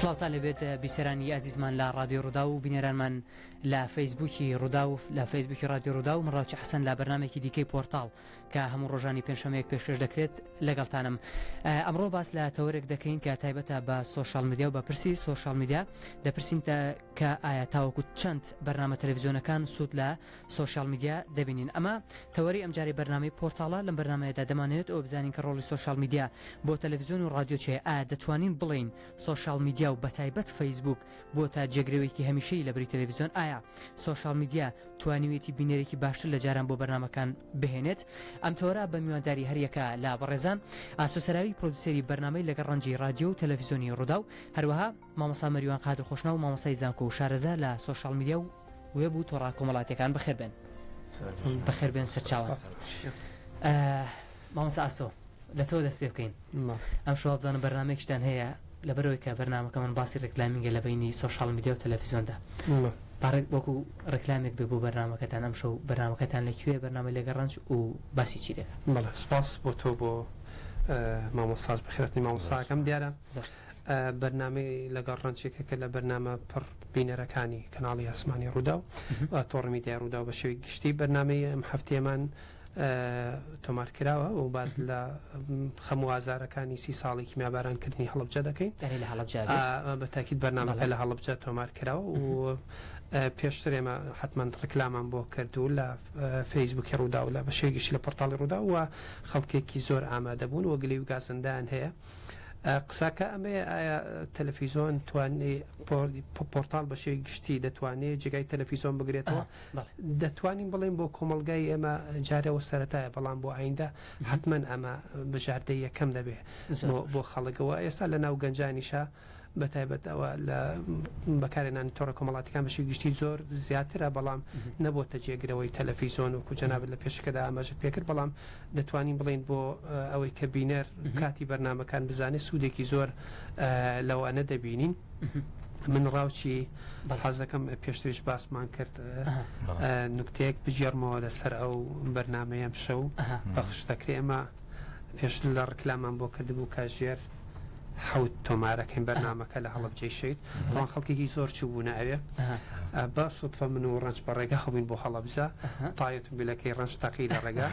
سڵاوتان لەبێت بیسەرانی ئازیزمان لە ڕادی ڕوودا و بینەرانمان لە فەیسبوکی ڕوودا و لە فەیسبوکی ڕادی ڕوودا و مڕاوچە حەسەن لە بەرنمێکی دیکەی پۆرتال کە هەموو ڕۆژانی پێنجشەمەیەک پێشکەش دەکرێت لەگەڵتانم ئەمڕۆ باس لە تەوەرێک دەکەین کە تایبەتە بە سوۆشال میدیا و بە پرسی سوۆشال میدیا دەپرسین کە ئایا تاوەکو چەند بەرنامە تەلەڤزیۆنەکان سوود لە سۆشیال میدیا دەبینین ئەمە تەوەری ئەمجارەی بەرنامەی پۆرتاڵە لەم بەرنمەیەدا دەمانەوێت ئەوە بزانین کە ڕۆڵی سۆشیال میدیا بۆ تەلەڤزیۆن و ڕادیۆ چێ ئایا دەتوانین بڵین سۆشیال میدیا و بەتایبەت فەیسبوک بۆ تا جێگرەوەیەکی هەمیشەی لە بری تەلەڤزیۆن ئایا سۆشیال میدیا توانیویەتی بینەرێکی باشتر لە جاران بۆ بەرنمەکان بهێنێت ئەم تەوەرە بە میوانداری هەریەکە لا بەڕێزان ئاسۆسەراوی پرۆدوسری بەرنمەی لەگە ڕەنجی ڕادیۆ و تەلەڤزیۆنی ڕووداو هەروەها مامۆستا مەریوان قادر خۆشناو مامۆستای زانکۆ و شارەزا لە سۆشیاڵ میدیا و وێب و تۆڕە کۆمەڵاتیەکان بەخێربێن بەخێربێن سەرچاوە مامۆستا ئاسۆ لە تۆ دەست پێ بکەین ئەم شواب بزانم بەرنمێکشتان هەیە لە بەرەوەی کە بەرنمەکە من باسی ڕێکلامینگە لە بینی سۆشال میدیا و تەلەفیزۆندا پارێک وەکو ڕێکلامێک بێ بۆ بەرنمەکەتان ئەم شەو بەرنمەکەتان لەکوێ بەرنامە لەگە ڕەنج و باسی چی لێ بەڵە سپاس بۆ تۆ بۆ مامۆسااز بخێتنی مامۆساکەم دیارە بەرنامەی لەگەڵ ڕەنچێکەکە لە بەرنامە پڕ بینەرەکانی کەناڵی ئاسمانی ڕوودا و تۆڕ میدیای ڕوودا بە شێوی گشتی بەرنمەی ئەم هەفتێمان تۆمار کراوە و باز لە خەموازارەکانی سی ساڵی کیمیابارانکردنی هەڵبجە دەکەین لە هەڵبجە بە تاکیت بەرنامەکە لە هەڵبجە تۆمار کراوە و پێشتر ئێمە حتمما ڕکلامان بۆ کردو لە فەیسبوکی ڕوودا و لە بە شێوی گشتی لە پۆرتاڵی ڕوودا و خەڵکێکی زۆر ئامادەبوون و گلی و گازندان هەیە. قساکە ئەمەیە ئایا تەلەفیزۆن توانێ پۆرتال بە شێوی گشتی دەتوانێت جێگای تەلەفیزۆن بگرێتەوە دەتوانین بڵێن بۆ کۆمەلگای ئێمە جارەوە سەتایە بەڵام بۆ ئایندە حتمما ئەمە بژاردە یەکەم دەبێت بۆ خەڵکەوە ئێستا لە ناو گەنجانیشە بە تایبەت ئەوە لە بەکارهێنانی تۆڕە کۆمەڵاتیەکان بەشی گشتی زۆر زیاترە بەڵام نەبۆتە جێگرەوەی تەلەفیزۆن وەکو جەنابت لە پێشەکەدا ئاماژەت پێکرد بەڵام دەتوانین بڵێین بۆ ئەوەی کە بینەر کاتی بەرنمەکان بزانێت سوودێکی زۆر لەوانە دەبینین. من ڕاوچی بەڕازەکەم پێشتریش باسمان کرد نوکتەیەک بگێڕمەوە لەسەر ئەو بەرنمەیەم شەو پەخش دەکرێ ئەمە پێش لە ڕکلامان بۆ کردبوو کاژێر حەوت تۆمار ئەکەین بەرنمەکە لە هەڵبجەی شەید ئەوان خەڵکێکی زۆر چوو بوون ئەوێ بە سوتفە من و ڕنج بە ڕێگە هەبووین بۆ هەڵبجە تاەت بلەکەی ڕنج تەقی لە ڕێگا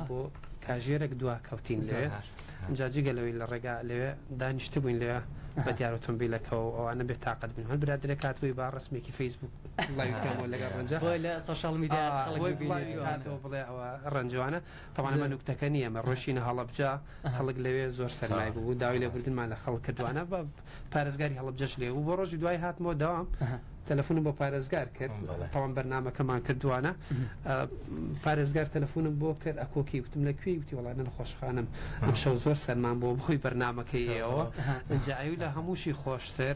بۆ کاژێرەك دوا کەوتین لێ جا جگە لەوەی لە ڕێگا لەوێ دانیشت بووین لێ بە دیار ئۆتۆمبیلەکە و ئەوانە بێ تااقەت بن هەن برادرە کاتبووی با ڕسمێکی فەیسبوک لەگەڵ ڕەنجە لە سوشال میدیا بڵێ ئەوە ڕەنجوانە تەبعەن ئەمە نوکتەکە نییە ئەمە ڕۆیشتینە هەڵەبجە خەڵک لەوێ زۆر سەرمای بوو و داوای لێبوردنمان لە خەڵک کردوانە بە پارێزگاری هەڵەبجەش لێ بوو بۆ ڕۆژی دوای هاتمەوە دەوام تەلەفۆنم بۆ پارێزگار کرد تەوام بەرنمەکەمان کردوانە پارێزگار تەلەفۆنم بۆ کرد ئەکۆکی وتم لە کوێی وتی وڵانە نەخۆشخانم ئەم شەو زۆر سەرمان بۆ بخۆی بەرنمەکەیەوە جاوی لە هەمووشی خۆشتر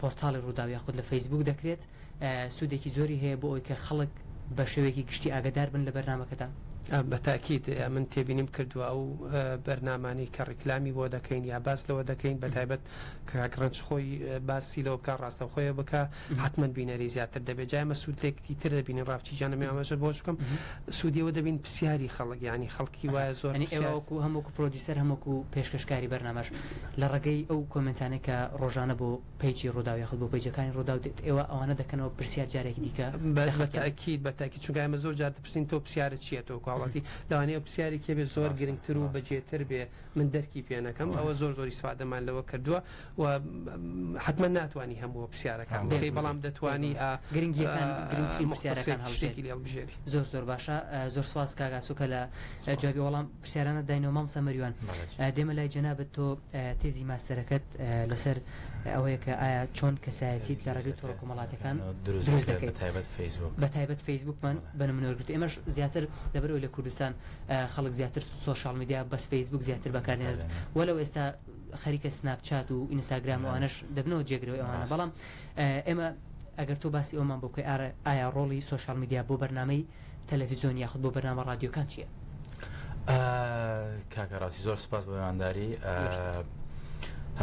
پۆرتاڵی ڕووداو یاخود لە فەیسبووک دەکرێت سوودێکی زۆری هەیە بۆ ئەوەی کە خەڵک بە شێوەیەکی گشتی ئاگەدار بن لە بەرنامەکەتان. بە تاکید من تێبینیم کردووە ئەو بەرنامانەی کە ڕیکلامی بۆ دەکەین یا باس لەوە دەکەین بە تایبەت کاک ڕەنج خۆی باسی لەوە بکا ڕاستەوخۆیە بکا حەتمەن بینەری زیاتر دەبێت جا ئێمە سوودێکی تر دەبینین ڕاپچی جان ئەمێ ئاماژە بۆش بکەم سوودی ئەوە دەبین پرسیاری خەڵک یانی خەڵکی وایە زۆر ئەنی ئێوە وەکوو هەم وەکوو پرۆدیوسەر هەم وەکوو پێشکەشکاری بەرنامەش لە ڕێگەی ئەو کۆمێنتانەی کە ڕۆژانە بۆ پەیجی ڕووداو یاخود بۆ پەیجەکانی ڕووداو دێت ئێوە ئەوانە دەکەنەوە پرسیار جارێکی دیکە لە بە خەڵکیان تەئکید بە تەئکید چونکە ئێمە زۆر جار دەپرسین تۆ پرسیارت چیە تۆ کواڵەتی لەوانەیە ئەو پرسیارێک هەبێت زۆر ڕاستە گرنگتر و بە ڕاستە. جێتر بێ من دەرکی پێ نەکەم ئەوە زۆر زۆر ئیسفادەمان لەوە کردوە و حەتمەن ناتوانی هەمووە پرسیارەکان هەموو بکەی بەڵام بگری دەتوانی بێگومان ئا گرنگیەکان گرنگترین پرسیارەکان موختصێک شتێکی هەڵبژێری. لێ ببژێری. زۆر زۆر باشە زۆر سپاس کاک ئاسۆ کە لە سپاس. جوابی وەڵام. پرسیارانت داینەوە مامۆستا مەریوان دێمە لای جەنابت تۆ تێزی ماستەرەکەت لەسەر ئەوەیە کە ئایا چۆن کەسایەتیت لە ڕێگەی تۆڕە کۆمەڵاتەکان دروست دەکەیت تایبەت فەیسبوک بە تایبەت فەیسبوکمان بە منۆرگرت ئێمەش زیاتر لەبەرەوە لە کوردستان خەڵک زیاتر سوۆشال میدیا بەس فەیسبوک زیاتر بەکاردێنێت وەلەو ئێستا خەریکە سناپچات و ئینستاگراموانش دەبنەوە جێگرەوە ئەوانە بەڵام ئێمە ئەگەر تۆ باسی ئەومان بۆ بکەی ئارە ئایا ڕۆڵی سوۆشال میدیا بۆ بەرنمەی تەلەفزیۆن یاخود بۆ بەرنامە ڕادیۆکان چیە؟ کاکە ڕاستی زۆر سپاس بە مێوانداری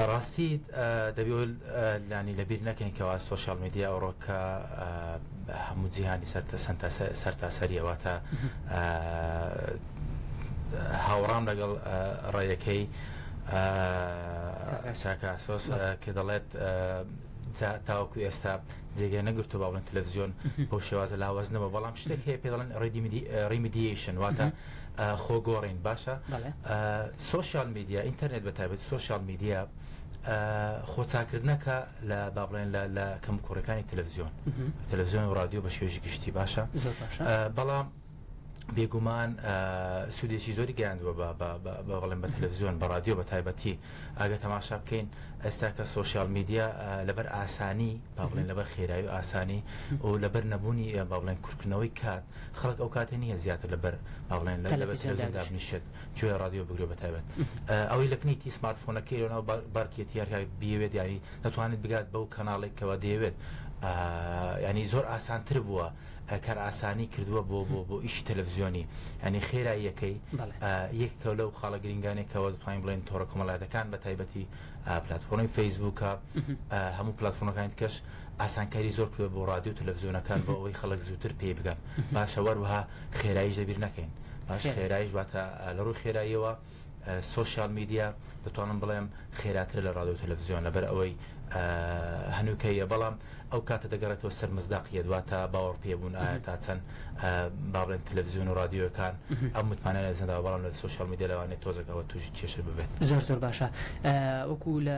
ڕاستی دەبی لانی لەبیر نەکەین کەوا سوۆشال میدیا ئەوڕۆکە هەموو جیهانی سەرتە سەرتاسەریەوە تا هاوڕام لەگەڵ ڕێیەکەی شاکاسۆس کە دەڵێت جا تاوەکو ئێستا جێگەی نەگرتووە با بڵێن تەلەفزیۆن بەو شێوازە لاوازنەوە بەڵام شتێک هەیە پێ دەڵێن ریمیدیشن واتە خۆگۆڕین باشە بەڵێ سۆشیال میدیا ئینتەرنێت بە تایبەت سۆشیال میدیا خۆچاکردنەکە لە با بڵێن لە لە کەم کوڕەکانی تەلەفزیۆن تەلەفزیۆن و رادیۆ بە شێژی گشتی باشە زۆر باشە. بەڵام بێگومان سودێکی زۆری گەیاندووە بەڵێن بە تەلەڤزیۆن بە رادیۆ بە تایبەتی ئەگە تەماشا بکەین ئێستا کە سوۆسیال میدیا لەبەر ئاسانی باڵێن لەبەر خێرایی و ئاسانی و لەبەر نەبوونی باڵێن کورکردنەوەی کات خەڵک ئەو کاتێ نییە زیاتر لەبەر باڵێن لە دابنیشێت توێ رادیۆ بگرێ بە تایبەت ئەوەی لەکنی تی سمارتفۆنەکەی لەناو بارکێت یارکە بیەوێت یاری دەتوانێت بگات بەو کەناڵێکەوە دەیەوێت ینی زۆر ئاسانتر بووە کار ئاسانی کردووە بۆ بۆ بۆ ئیشی تەلەڤزیۆنی ئەنی خێراییەکەی یەکەوە لەو خاڵە گرنگانێک کەەوە دەتوانین بڵێن تۆڕە کۆمەڵاتەکان بە تایبەتی پلتفۆنی فەیسبووکە هەموو پلتفۆنەکان کەش ئاسانکاری زۆر کرد بۆ ڕادیو تەلەڤزیۆنەکان بۆ ئەوەی خەڵک زووتر پێی بگەن باشە وەروها خێراییش دەبیر نەکەین باش خێرایش واتە لە ڕووی خێراییەوە سۆشیال میدیا دەتوانم بڵێم خێراترە لە ڕادۆ تەلەڤزیۆن لەبەر ئەوەی هەنووکەیە بەڵام ئەو کاتە دەگەڕێتەوە سەر مزداقیە دواتە باوەڕ پێبوون ئایا تا چەند بابلێن تەلەڤزیۆن و رادیۆەکان ئەم متمانە لە زەندا بەڵام لە سۆشیال میدیا لەوانێت تۆزەکەەوە توش کێشە ببێت زۆر زۆر باشە وەکو لە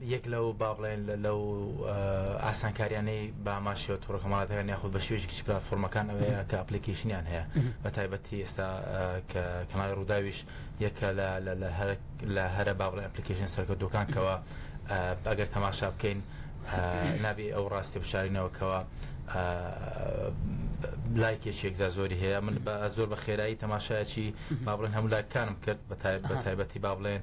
یەک لەو با بڵێن لەو ئاسانکاریانەی بە ئاماژەوە تۆڕەکۆمەڵاتەکان یاخود بە شێوەیەکی گشتی پلاتفۆرمەکان ئەوەیە کە ئەپلیکەیشنیان هەیە بە تایبەتی ئێستا کە کەناڵی ڕووداویش یەکە لە هەرە با بڵێن ئەپلیکەیشن سەرکەوتووەکان کەەوە ئەگەر تەماشا بکەین نابێ ئەو ڕاستی بشارینەوەکەوە لایکێکی یەکجار زۆری هەیە من بە زۆر بە خێرایی تەماشایەکی با بڵێن هەموو لایکانم کرد بە تایبەتی با بڵێن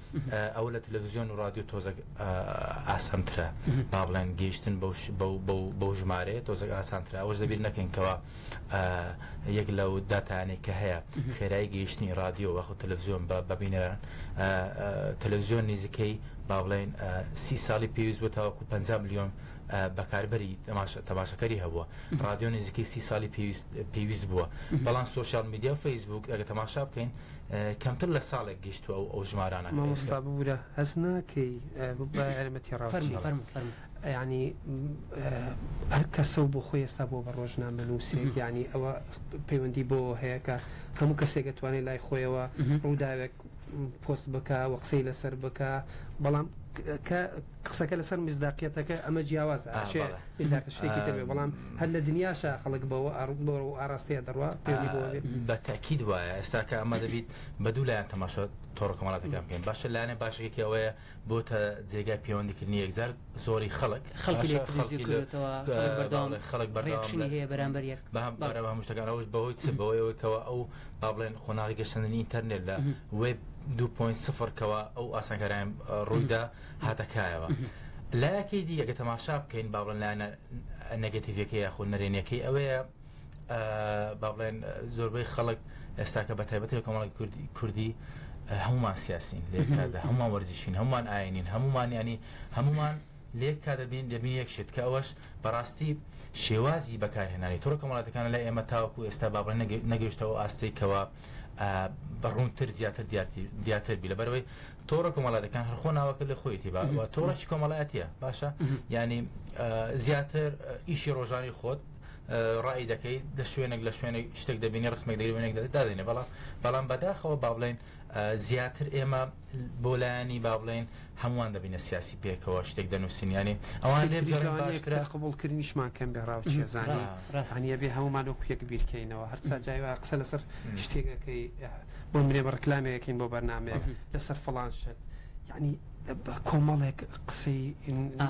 ئەوە لە تەلەڤزیۆن و ڕادیۆ تۆزەک ئاسانترە با بڵێن گەیشتن بەو ژمارەیە تۆزەک ئاسانترە ئەوەش دەبیر نەکەین کەەوە یەک لە و داتانێک کە هەیە خێرای گەیشتنی ڕادیۆ وەخو تەلەڤزیۆن بە بەبینەران تەلەڤزیۆن نزیکەی با بڵێن سی ساڵی پێویست بۆ تاوەکو 5 میلیۆن بەکاربەری تەماشەکەری هەبووە ڕادیۆ نزیکەی سی ساڵی پێویست بووە بەڵام سوۆشال میدیا و فەیسبوک ئەگە تەماشا بکەین کەمتر لە ساڵێک گەیشتوە ئەو ئەو ژمارانە مامۆستا ببورە هەست ناکەی بەمە تێڕاوچی فەرم ینی هەر کەسە و بۆ خۆی ئێستا بۆ بە ڕۆژنامە نووسێک ینی ئەوە پەیوەندی بۆ هەیە کە هەموو کەسێک دەتوانێت لای خۆیەوە ڕووداوێک پۆست بکە و قسەی لەسەر بکە بەڵام کە قسەکە لەسەر میسداقیەتەکە ئەمە جیاوازە ئا ئەشێ بەڵێ. میسداق شتێکی تر بێ بەڵام هەر لە دنیاشا خەڵک بەوە ئاڕ بەوە و ئاڕاستەیە دەڕوا پەیوەندی بەوە بێ بە تەئکید وایە ئێستا کە ئەمە دەبیت بە دوو لایەن تەماشا تۆڕە کۆمەڵاتەکان بکەین باشە لایەنە باشەکەکی ئەوەیە بۆتە جێگای پەیوەندیکردنی یەکجار زۆری خەڵک خەڵکی لێ باشە، تلویزیون خەڵکی لە- کردوێتەوە، کە- خەڵک بەردەوام باڵێ، خەڵک بەردەوام ڕێکشنی لە- هەیە بەرامبەر یەک. بە هەم بەڵێ. بارە بە هەموو شتەکان ئەوش بەهۆی چ بەوەی ئەوەی کەوا ئەو با بڵێن قۆناغی گەشەندنی ئینتەرنێت لە وێب 2.0 کەوا ئەو ئاسانکاریان ڕوویدا هاتە کایەوە. لایەکەی دی ئەگەر تەماشا بکەین با بڵێن لایەنە نەگەتیڤەکەی یاخۆ نەرێنیەکەی ئەوەیە با بڵێن زۆربەی خەڵک ئێستاکە بە تایبەتی لە کۆمەڵی کوردی هەمومان سیاسین لێکدا هەمومان وەرزشین هەمومان ئاینین هەمومان ینی هەمومان لێک کا دەبین دەبین یەک شت کە ئەوەش بەڕاستی شێوازی بەکارهێنانی تۆڕ کەمەڵاتەکان لە ئێمە تاوەکو ئێستا بابڕێن نەگەشتەوە ئاستێکەوە بەڕوونتر زیاتر دیاتر بی لە بەرەوەی تۆڕە کۆمەڵاتەکان هەر خۆ ناوەکە لە خۆیتی با تۆڕێکی کۆمەڵاتە باشە ینی زیاتر ئیشی ڕۆژانی خۆت ڕای دەکەیت لە شوێنێک لە شوێنێک شتێک دەبینی ڕسمێک دەگرێنێک دادێنێ بەڵام بەڵام بەداخەوە با بڵێن زیاتر ئێمە بۆ لایەنی با بڵێن هەمووان دەبینە سیاسی پێکەوە شتێک دەنووسینیانی ئەوان لێ باشترە قبولکردنیشمان کەم بێ ڕاوچێزانانی ڕاستانە بێ هەمومان و پێک بیرکەینەوە هەرچا جای قسە لەسەر شتێکەکەی بۆ منێ بە ڕکلامێکین بۆ بەرنمەیە لەسەر فڵان شت یعنی کۆمەڵێک قسەی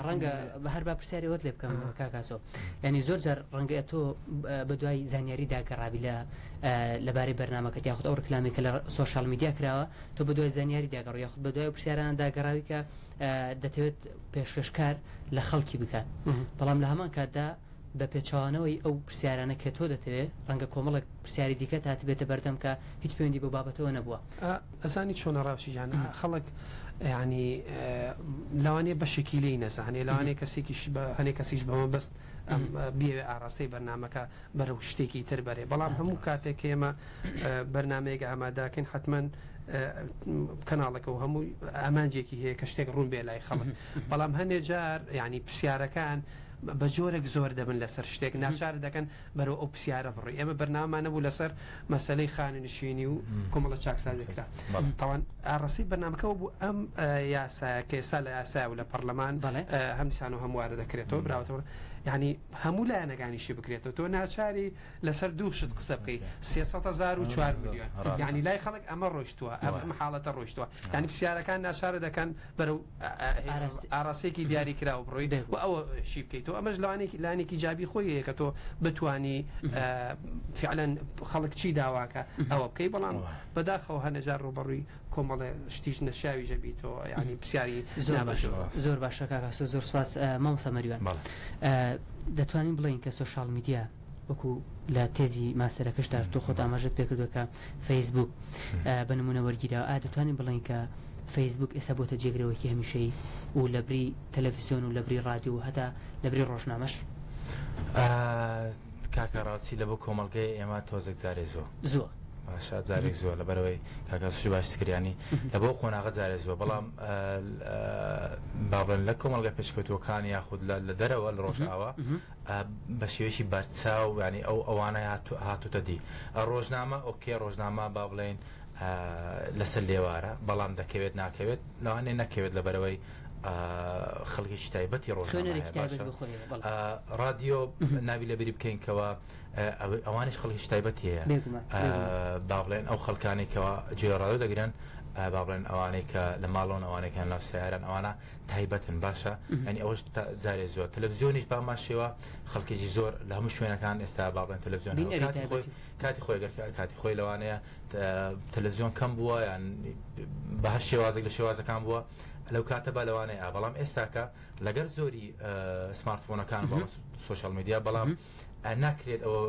ڕەنگە بە هەر با پرسیارەوەت لێ بکەم کاکاسۆ ینی زۆر جار ڕەنگە تۆ بە دوای زانیاری داگەڕابی لە لەبارەی بەرنمەکە یاخود ئەو ڕکلامی کە لە سوۆشال میدیا کراوە تۆ بە دوای زانیاری داگەڕ یاخود بە دوای پرسیاران داگەڕاوی کە دەتەوێت پێشکەشکار لە خەڵکی بکات بەڵام لە هەمان کاتدا بە پێچەوانەوەی ئەو پرسیارانە کە تۆ دەتەوێ، ڕەنگە کۆمەڵێک پرسیاری دیکەت هاتبێتە بەردەم کە هیچ پەیوەندی بەو بابەتەوە نەبووە. ئا ئەزانی چۆنە ڕاوچی جان، ئا خەڵک یانی لەوانەیە بەشێکی لێی نەزانێ، لەوانەیە کەسێکیش بە هەنێ کەسیش بە مەبەست ئەم بیەوێ ئاڕاستەی بەرنامەکە بەرەو شتێکی تر بەرێ، بەڵام هەموو کاتێک کە ئێمە بەرنامەیەک ئاماداکەین حەتمەن کەناڵەکە و هەمووی ئامانجێکی هەیە کە شتێک ڕوون بێ لای خەڵک، بەڵام هەنێ جار یانی پرسیارەکان بەجۆرێک زۆر دەبن لەسەر شتێک ناچارت دەکەن بەرەو ئەو پرسیارە بڕۆی ئێمە بەرنامەمان نەبوو لەسەر مەسەلەی خانەنشینی و کۆمەڵە چاکسازی کرا تاوان ئاڕاستەی بەرنمەکەەوە بوو ئەم یاسایە کە ئێستا لە یاسای و لە پەرلەمان هەم دیسان و هەموارە دەکرێتەوە براوەتەوە ینی هەموو لایەنەکانیشی بکرێتەوە تۆ ناچاری لەسەر دوو شت قسە بکەی سێسەهزار و چوار میلیۆن ینی لای خەڵک ئەمە ڕۆشتووە ئەمە حاڵەتە ڕۆشتووە ینی پرسیارەکان ناچارە دەکەن بەرەو ئاراستەیەکی دیاری کراوە بڕۆیت و ئەوە شی بکەیتەوە ئەمەش لەوانێکی لانێکی جابی خۆی هەیە کە تۆ بتانی فعلەن خەڵک چی داواکە ئەوە بکەی بەڵام بەداخەوە هەنەجار ڕوبەڕووی کۆمەڵێ شتیش نەشیاوی ژەبییتەوە ینی پرسیاری زۆر باش زۆر باشەکە زۆر سپاس مامۆسا مەریوان دەتوانین بڵین کە سوۆشال میدیا وەکو لە تێزی ماستەرەکەشدا تۆ خۆت ئاماژەت پێکردوە کە فەیسبوک بە نمونە وەرگیرا ئا دەتوانین بڵین کە فەیسبوک ئێستا بۆتە جێگرەوەکی هەمیشەی و لە بری تەلەڤزیۆن و لە بری رادیو و هەتا لە بری ڕۆژنامەش کاکە ڕاوچی لە بۆ کۆمەلگای ئێمە تۆزێک جارێ زۆ زۆ باشە جارێک زۆر لە بەرەوەی کاکەسوشی باش کریانی لە بۆ قۆناغە جارێ زۆر بەڵام بابن لە کۆمەلگە پێشکەوتوەکان یاخود لە دەرەوە لە ڕۆژاوە بە شێوەیەکی بەرچاو یانی ئەو ئەوانە هاتوتە دی ڕۆژنامە ئۆکێ ڕۆژنامە با بڵێن لەسەر لێوارە بەڵام دەکەوێت ناکەوێت لەوانێ نەکەوێت لە بەرەوەی خەڵکێکی تایبەتی ڕۆژنامە ڕادیۆ ناوی لە بری بکەینکەوە ئەوانش خەڵکیش تایبەتی هەیە با بڵێن ئەو خەڵکانێکەوە جێڕادە دەگرن با بڵێن ئەوانەی کە لە ماڵۆن ئەوانەکان لە سیارن ئەوانە تایبەتن باشە ئەنی ئەوش جارێ زۆر تەلەڤزیۆنیش بامان شێوە خەڵکێکی زۆر لە هەموو شوێنەکان ئێستا بابن تەلەڤزیۆن کاتی خۆی کاتی خۆی لەوانەیە تەلەڤزیۆن کەم بووە یان بە هەر شێوازێک لە شێوازەکان بووە لەو کاتە بە لەوانەیە بەڵام ئێستاکە لەگەر زۆری سمارتفۆنەکان بە سوۆشال میدیا بەڵام ناکرێت ئەوە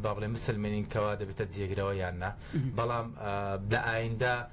با بڵێ مسلمێنین کەوا دەبێتە جێگرەوە یان نا بەڵام لە ئایندا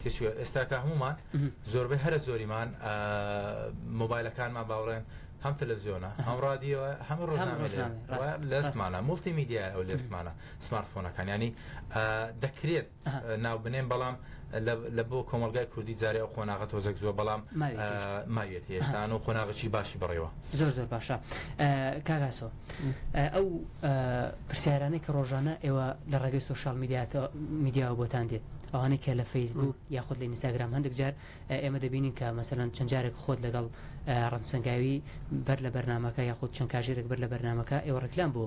تێچووە ئێستا کە هەمومان زۆربەی هەرە زۆریمان مۆبایلەکانمان باوڕێن هەم تەلەزیۆنە هەم ڕادیەوە هەم ڕۆژنامە لەسمانە مفتی میدیا ئەو لەسمانە سمارتفۆنەکان ینی دەکرێت ناو بنێن بەڵام لە بۆ کۆمەلگای کوردی جارێ ئەو قۆناغە تۆزەک زووە بەڵام ماوێت هێشتان و قۆناغچی باشی بڕێەوە زۆر زۆر باشە کاگاسۆ ئەو پرسیارانەی کە ڕۆژانە ئێوە لە ڕێگەی سوۆشال میدیاتە میدیاوە بۆتان دێت ئەوانەی کە لە فەیسبووک یاخود لە ئینستاگرام هەندێک جار ئێمە دەبینین کە مەسەلەن چەند جارێک خۆت لەگەڵ ڕەنسەنگاوی بەر لە بەرنمەکە یاخود چەند کاژێرێک بەر لە بەرنمەکە ئێوە ڕکلام بۆ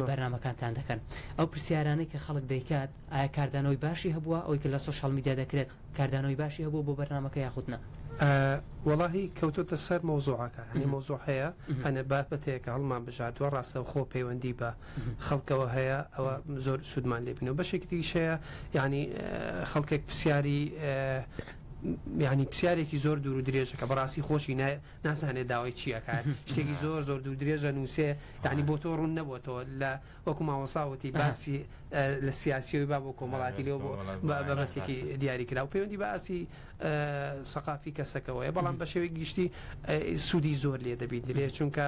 بەرنمەکانتان دەکەن ئەو پرسیارانەی کە خەڵک دەیکات ئایا کاردانەوەی باشی هەبووە ئەوی کە لە سوۆشال میدیا دەکرێت کاردانەوەی باشی هەبوو بۆ بەرنمەکە یاخودنا وەڵی کەوتۆتە سەر مەوزوعەکە هەنی مەوزوع هەیە هەنە بابەتەیەکە هەڵمان بژاردووە ڕاستەوخۆ پەیوەندی بە خەڵکەوە هەیە ئەوە زۆر سوودمان لێبنەوە بەشێکی تریشەیە ینی خەڵکێک پرسیاری ینی پرسیارێکی زۆر دوور و درێژە کە بەڕاستی خۆشی نازانێت داوای چیەکان شتێکی زۆر زۆر دوور درێژە نووسێ ینی بۆ تۆ ڕوون نەبووەوە لە وەکو ماوەساوتی باسی لە سیاسیەوەی با بۆ کۆمەڵاتی لێ بۆ بەبەسێکی دیاری کرا و پەیوەندی باسی سەقافی کەسەکەەوەی بەڵام بە شێوەی گشتی سوودی زۆر لێ دەبیت درێ چونکە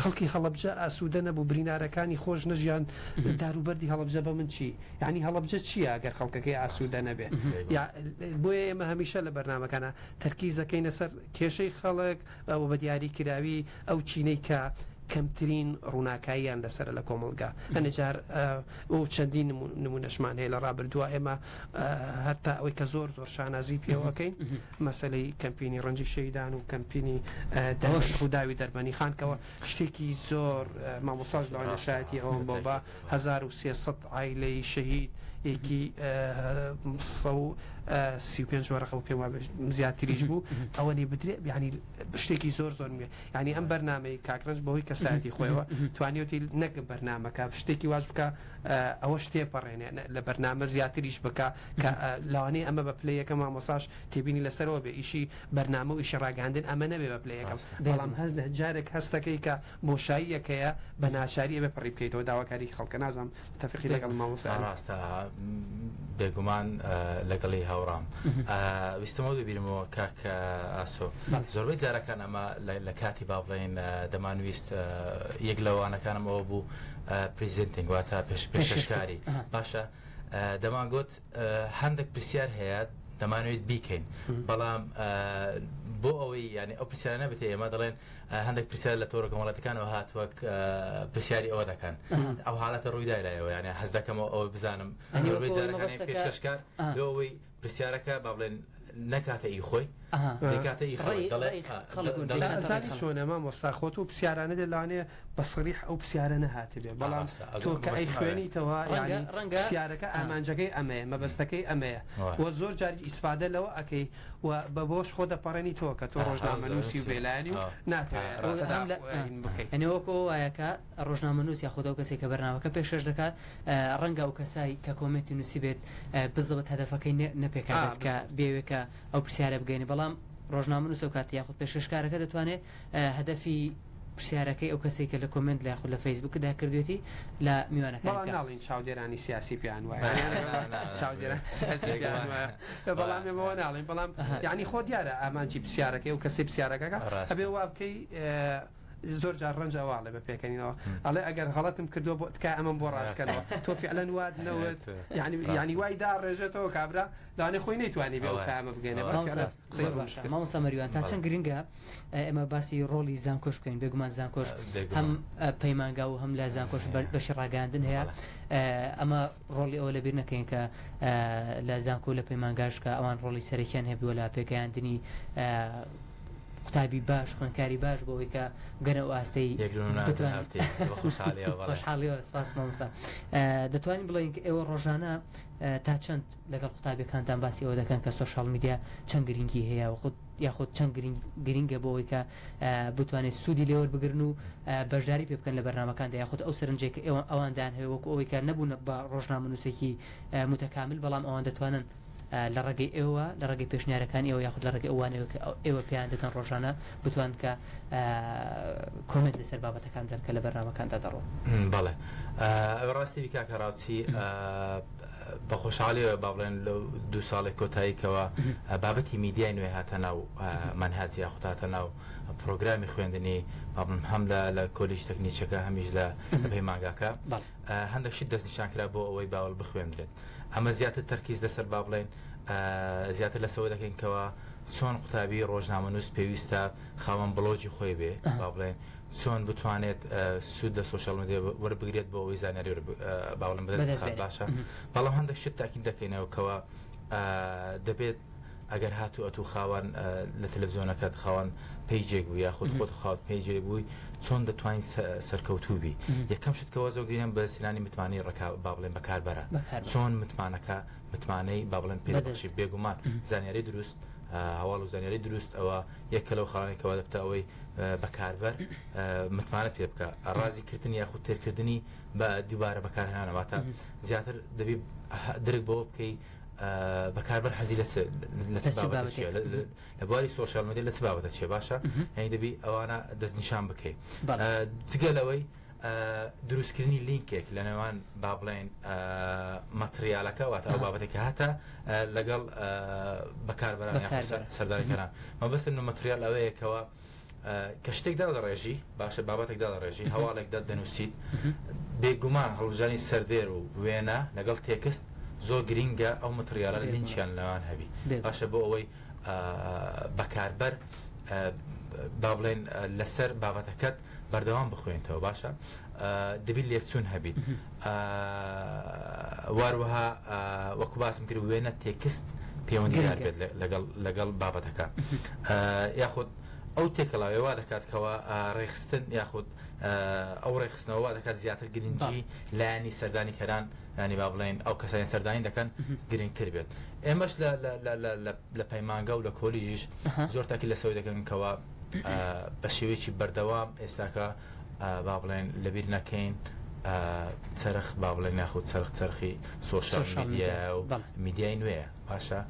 خەڵکی هەڵەبجە ئاسوودە نەبوو برینارەکانی خۆش نەژیان داروبەردی هەڵبجە بە من چی یعنی هەڵبجە چییە گەر خەڵکەکەی ئاسوودە نەبێ بۆیە ئێمە هەمیشە لە بەرنمەکانە تەرکیزەکەینە سەر کێشەی خەڵک ئەوە بە دیاری کراوی ئەو چینەی کە کەمترین ڕووناکاییان لەسەر لە کۆمەلگا هەنجار ئەو چەندین نمونەشمان هەیە لە ڕابردووە ئێمە هەتا ئەوەی کە زۆر زۆر شانازی پێوەکەین مەسلەی کەمپینی ڕەنجی شەیدان و کەمپینی داوی دەربەنی خانکەوە شتێکی زۆر مامۆساز لەوانە شایەتی ئەوم بۆ بە 1300 ئایلەی شەهید یەکی 35 وەرەقە و پێم زیاتریش بوو ئەوە لی بدرێ بیانی شتێکی زۆر زۆر مێ ینی ئەم بەرنمەی کاکرنج بەوەی کەسایەتی خۆیەوە توانیوتی نەک بەرنمەکە شتێکی واش بکە ئەوەش تێپەڕێنێ لە بەرنامە زیاتریش بکە کە لەوانەیە ئەمە بە پلە یەکە مامۆساش تێبینی لەسەرەوە بێ ئیشی بەرنامە و ئیشی ڕاگەاندن ئەمە نەبێ بە پلە یەکەم بەڵام هەز جارێک هەستەکەی کە بۆشاییەکەیە بە ناچاریە بێ پڕی بکەیتەوە داواکاری خەڵکە نازم تەفقی لەگەڵ مامۆسا ڕاستە بێگومان لەگەڵی هاوڕام ویستمەوە دەبیرمەوە کاک ئاسۆ زۆربەی جارەکان ئەمە لە کاتی باڵێن دەمانویست یەک لەوانەکانم ئەوە بوو Presenting واتە پێشکەشکاری باشە دەمانگوت هەندێک پرسیار هەیە دەمانوێت بیکەین بەڵام بۆ ئەوەی ینی ئەو پرسیارانە بێت ئێمە دەڵێن هەندێک پرسیار لە تۆرە کۆمەڵەتەکانەوە هات وەک پرسیاری ئەوە دەکەن ئەو حالەتە ڕوویدایلایەوە یانە هەز دەکەمەوە ئەوە بزانم پێشکەشکار ئەوەی پرسیارەکە با بڵێن نەکاتە ئی خۆی دەیکاتە ئی خەڵک دەڵێ خەڵک و دەڵێ ئەزانی چۆنە مامۆستا خۆت و پرسیارانە دێ لەوانەیە بە سەریح ئەو پرسیارە نەهاتبێ بەڵام تۆ کە ئەیخوێنیتەوە یانی پرسیارەکە ئامانجەکەی ئەمەیە مەبەستەکەی ئەمەیە و زۆر جار ئیسفادە لەوە ئەکەی و بە بۆش خۆ دەپەڕێنیتەوە کە تۆ ڕۆژنامەنووسی و بێلایەنی و ناتەوێت ئەنێ وەکۆ وایەکە ڕۆژنامەنووس یاخود ئەو کەسەی کە بەرنامەکە پێشکەش دەکات، ڕەنگە ئەو کەسای کە کۆمێنتی نووسیبێت بزڵبت هەدەفەکەی نەپێکهاتێت کە بیەوێت کە ئەو پرسیارە بگەیەنێت، بەڵام ڕۆژنامەنووس ئەو کاتە یاخود پێشکەشکارەکە دەتوانێت هەدەفی پرسیارەکەی ئەو کەسەی کە لە کۆمێنت لە یاخود لە فەیسبووکدا کردوێتی لە میوانەکانی بکات. بەڵام ناڵێین چاودێرانی سیاسی پێیان وایە چاودێرانی سیاسی پێیان وایە بەڵام ئێمە وا ناڵێین بەڵام یانی خۆ دیارە ئامانجی پرسیارەکەی ئەو کەسەی پرسیارەکەکە ئەبێ وا بکەی زۆر جار ڕەنج ئەوە ئەڵێ بە پێکەنینەوە ئەڵێ ئەگەر غەڵەتم کردووە بۆ تکای ئەمەم بۆ ڕاستکەنەوە تۆ فعلەن وات نەوت یعنی یعنی وای دا ڕێژێتەوە کابرا دانێ خۆی نەیتوانی بێ کامە بگەێنێ مامۆستا مەریوان تا چەند گرنگە ئێمە باسی ڕۆڵی زانکۆش بکەین بێگومان زانکۆش هەم پەیمانگا و هەم لە زانکۆش بەشی ڕاگەاندن هەیە ئەمە ڕۆڵی ئەوە لەبیر نەکەین کە لە زانکۆ لە پەیمانگاشکە ئەوان ڕۆڵی سەرەکیان هەبووە لە پێگەیاندنی قوتابی باش خوێنکاری باش بۆ ئەوەی کە گەنە و ئاستەی خۆشحاڵیەوە سپاس مامۆستا دەتوانین بڵێن ئێوە ڕۆژانە تا چەند لەگەڵ قوتابەکانتان باسی ئەوە دەکەن کە سوۆشال میدیا چەند گرنگی هەیە و خود یاخود چەند گرنگە بۆەوەی کە بتوانێت سوودی لێوە بگرن و بەشداری پێ بکەن لە بەرنمەکاندا یاخود ئەو سەرنجێک ئەوان ئەوان دان هەیە وەکو ئەوەی کە نەبوون بە ڕۆژنامە نووسێکی متەکامل بەڵام ئەوان دەتوانن لە ڕێگەی ئێوە لە ڕێگەی پێشنیارەکان ئێوە یاخود لە ڕێگەی ئەوانەوە کە ئێوە پێیان دەدەن ڕۆژانە بتوان کە کۆمنت لەسەر بابەتەکان دەن کە لە بەرنمەکاندا دەڕۆ بەڵێ ڕاستی بیکا کە ڕاوچی بە خۆشحاڵیەوە با بڵێن لە دو ساڵێک کۆتاییکەوە بابەتی میدیای نوێ هاتە ناو منهاجی یاخوداتە ناو پرۆگرامی خوێندنی بابم هەم لە لە کۆلیش تەکنیچەکە هەمیش لە پەیمانگاکە هەندێک شت دەستنیشان کرا بۆ ئەوەی باوەل بخوێندرێت ئەمە زیاتر تەرکیز لەسەر با بڵێن زیاتر لەسەوە دەکەین کەەوە چۆن قوتابی ڕۆژنامەنووس پێویستە خاوەن بڵۆجی خۆی بێ با بڵێن چۆن بتوانێت سوود لە سوۆشال مدیێ وەربگرێت بۆ ئەوەی زانیاری باوەڵم بەدەست باشە بەڵام هەندێک شت تاکین دەکەینەوە کەەوە دەبێت ئەگەر هاتوو ئەتوو خاوەن لە تەلەڤزیۆنەکەت خاوەن پەیجێک بوو یاخود خۆت خاوت پەیجێک بووی چۆن دەتوانین سەرکەوتوو بی یەکەم شت کەەوە زۆ گرینم بە سینانی متمانەی ڕکا با بڵێن بەکاربەرە چۆن متمانەکە متمانەی با بڵێن پێدەشی بێگومان زانیاری دروست هەواڵ و زانیاری دروست ئەوە یەکە لەو خاڵانێکەوە دەبتە ئەوەی بەکاربەر متمانە پێ بکە ڕازی کردنی یاخود تێرکردنی بە دووبارە بەکارهێنانەوەتە زیاتر دەبی درک بەوە بکەی بەکاربەر حەزی لە چ بابەتێکە لە بواری سۆشیال میدیا لە چ بابەتە چێ باشە هەنی دەبی ئەوانە دەستنیشان بکەیت جگە لەوەی دروستکردنی لینکێک لە نێوان با بڵێن مەتریالەکە واتە ئەو بابەتێکە هاتە لەگەڵ بەکاربەران سەردانکەران مەبەستن مەتریال ئەوەیەکەوە کە شتێک دادەڕێژی باشە بابەتێک دادەڕێژی هەواڵێک دەت دەنووسیت بێگومان هەڵبژانی سەردێر و وێنە لەگەڵ تێکست زۆر گرینگە ئەو متریاە لە لینچیان لەوان هەبی باشە بۆ ئەوەی بەکاربەر با بڵێن لەسەر بابەتەکەت بەردەوام بخوێنتەوە باشە دەبی لێکچوون هەبیت واروەها وەکو باسم کرد وێنە تێکست پەیوەندیدار بێت لەگەڵ لەگەڵ بابەتەکە یاخود ئەو تێکەڵاوێ وا دەکات کەەوە ڕێخستن یاخود ئەو ڕێخستنەوە وا دەکات زیاتر گرنگجی لایانی سەردانی کەران ینی با بڵێن ئەو کەسانی سەردانی دەکەن گرنگتر بێت ئێمەش لە لە پەیمانگا و لە کۆلیژیش زۆر تاکی لەسەوەی دەکەن کەوا بە شێوەیەکی بەردەوام ئێستاکە با بڵێن لەبیر نەکەین چرخ با بڵێن یاخود چرخ چرخی سۆشال میدیا و میدیای نوێ باشە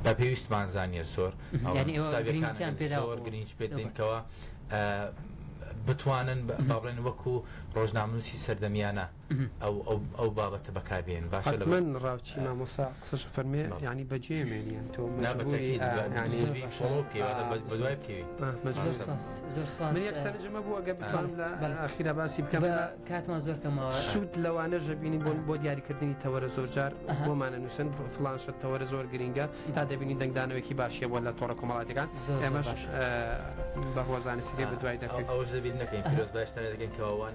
بە پێویستمان زانیە زۆر زۆر گرنج پێ دینکەوە بتوانن باڵێن وەکو ڕۆژنامنووسی سەردەمیانە ئەو بابەتە بەکار بێنن باشە لە من ڕاوچی مامۆسا قسەش فەرمێ ینی بەجێ مێنیان تۆ سەرجمە بووە گە بکەم لە ئاخیرا باسی بکەم کاتمان زۆر کەمەوە سوود لەوانە ژەبینی بۆن بۆ دیاریکردنی تەوەرە زۆرجار بۆمانە نووسن فلانشە تەوەرە زۆر گرینگە تا دەبینی دەنگدانەوەکی باشیە بۆ لە تۆڕە کۆمەڵاتەکان ئێمەش بەڕوەزانستگە بە دوای دەکەین ئەوە ژەبیر نەکەین پرۆز باشتانە دەکەین کەوان